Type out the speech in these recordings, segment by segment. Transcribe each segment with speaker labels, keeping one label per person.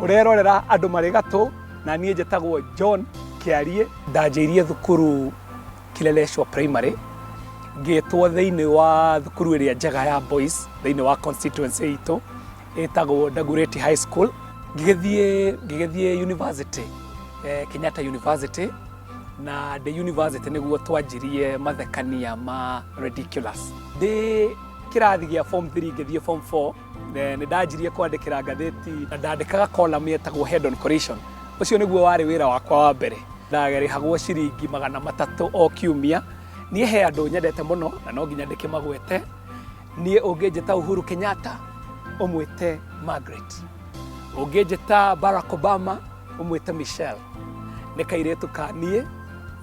Speaker 1: ũrerorera andũ marĩ gatũ na niĩ njĩtagwo john kĩariĩ ndanjĩirie thukuru kileleshwa primary ngĩtwo thĩinĩ wa thukuru ĩrĩa njega ya boys thĩinĩ wa constituency itũ ĩtagwo dagureti high school ngĩgĩthiĩ ngĩgĩthiĩ university eh, kenyatta university na ndĩ university nĩguo twanjirie mathekania ma ridiculous ndĩ kĩrathi gĩa form 3 ngĩthiĩ form 4 Nĩ ndanjirie kwandĩkĩra ngathĩti na ndandĩkaga column yetagwo Head on Collision. Ũcio nĩguo warĩ wĩra wakwa wa mbere. Ndarĩhagwo ciringi magana matatũ o kiumia. Niĩ he andũ nyendete mũno na no nginya ndĩkĩmagwete. Niĩ ũngĩnjĩta Uhuru Kenyatta, ũmwĩte Margaret. Ũngĩnjĩta Barack Obama, ũmwĩte Michelle nĩ kairĩtu ka niĩ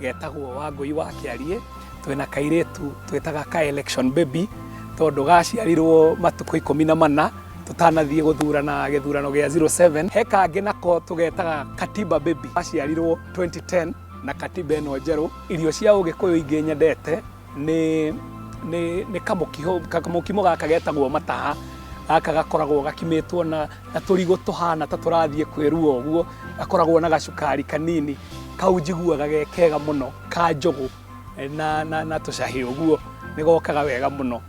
Speaker 1: getagwo Wangũi wa Kĩariĩ twĩna kairĩtu twĩtaga ka election baby tondũ gaciarirwo matukũ ikũmi na mana tũtanathiĩ gũthurana gĩthurano gĩa 07 he kangĩ nako tũgetaga katiba baby gaciarirwo 2010 na katiba ĩno njerũ irio cia ũgĩkũyũ ingĩ nyendete nĩ nĩ nĩ kamũkiho kamũkimo gaka getagwo mataha gaka gakoragwo gakimĩtwo na na tũrigũ tũhana ta tũrathiĩ kwĩrua ũguo gakoragwo na gacukari kanini kau njiguaga ge kega mũno ka njũgũ eh, na na na tũcahĩ ũguo nĩ gokaga wega mũno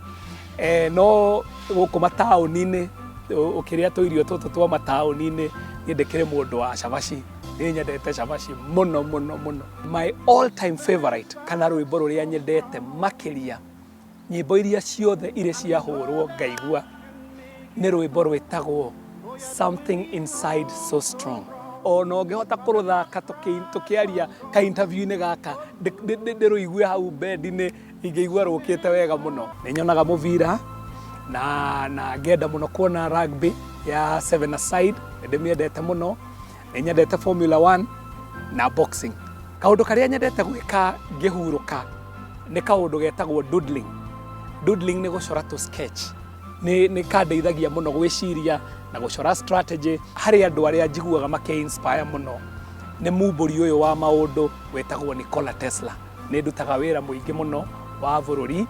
Speaker 1: eh, no gũkũ mataũni-inĩ ũ- ũkĩrĩa tũirio tũtũ twa mataũni-inĩ niĩ ndĩkĩrĩ mũndũ wa cabaci nĩ nyendete cabaci mũno mũno mũno My all time favorite kana rwĩmbo rũrĩa nyendete makĩria nyĩmbo iria ciothe irĩ ciahũrwo ngaigua nĩ rwĩmbo rwĩtagwo something inside so strong ona ũngĩhota kũrũthaka tũkĩ- tũkĩaria ka interview-inĩ gaka ndĩ- ndĩ- ndĩ- ndĩrũigue hau bendi-inĩ ingĩigua rũkĩte wega mũno nĩ nyonaga mũbira na na ngenda mũno kuona rugby ya seven aside nĩ ndĩmĩendete mũno nĩ nyendete formula 1 na boxing kaũndũ karĩa nyendete gwĩka ngĩhurũka nĩ kaũndũ getagwo doodling doodling nĩ gũcora tũ sketch nĩ nĩ kandeithagia mũno gwĩciria na gũcora strategy harĩ andũ arĩa njiguaga make inspire mũno nĩ mumbũri ũyũ wa maũndũ wetagwo Nikola Tesla nĩ ndutaga wĩra mũingĩ mũno wa bũrũri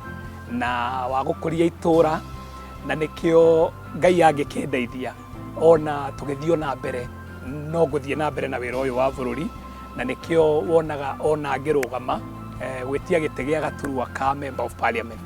Speaker 1: na wa gũkũria itũũra na nĩkĩo Ngai angĩkĩndeithia ona tũgĩthiĩ ona mbere no gũthiĩ na mbere na wĩra ũyũ wa bũrũri na nĩkĩo wonaga ona ngĩrũgama eh, gwĩtia gĩtĩ gĩa gaturwa ka member of parliament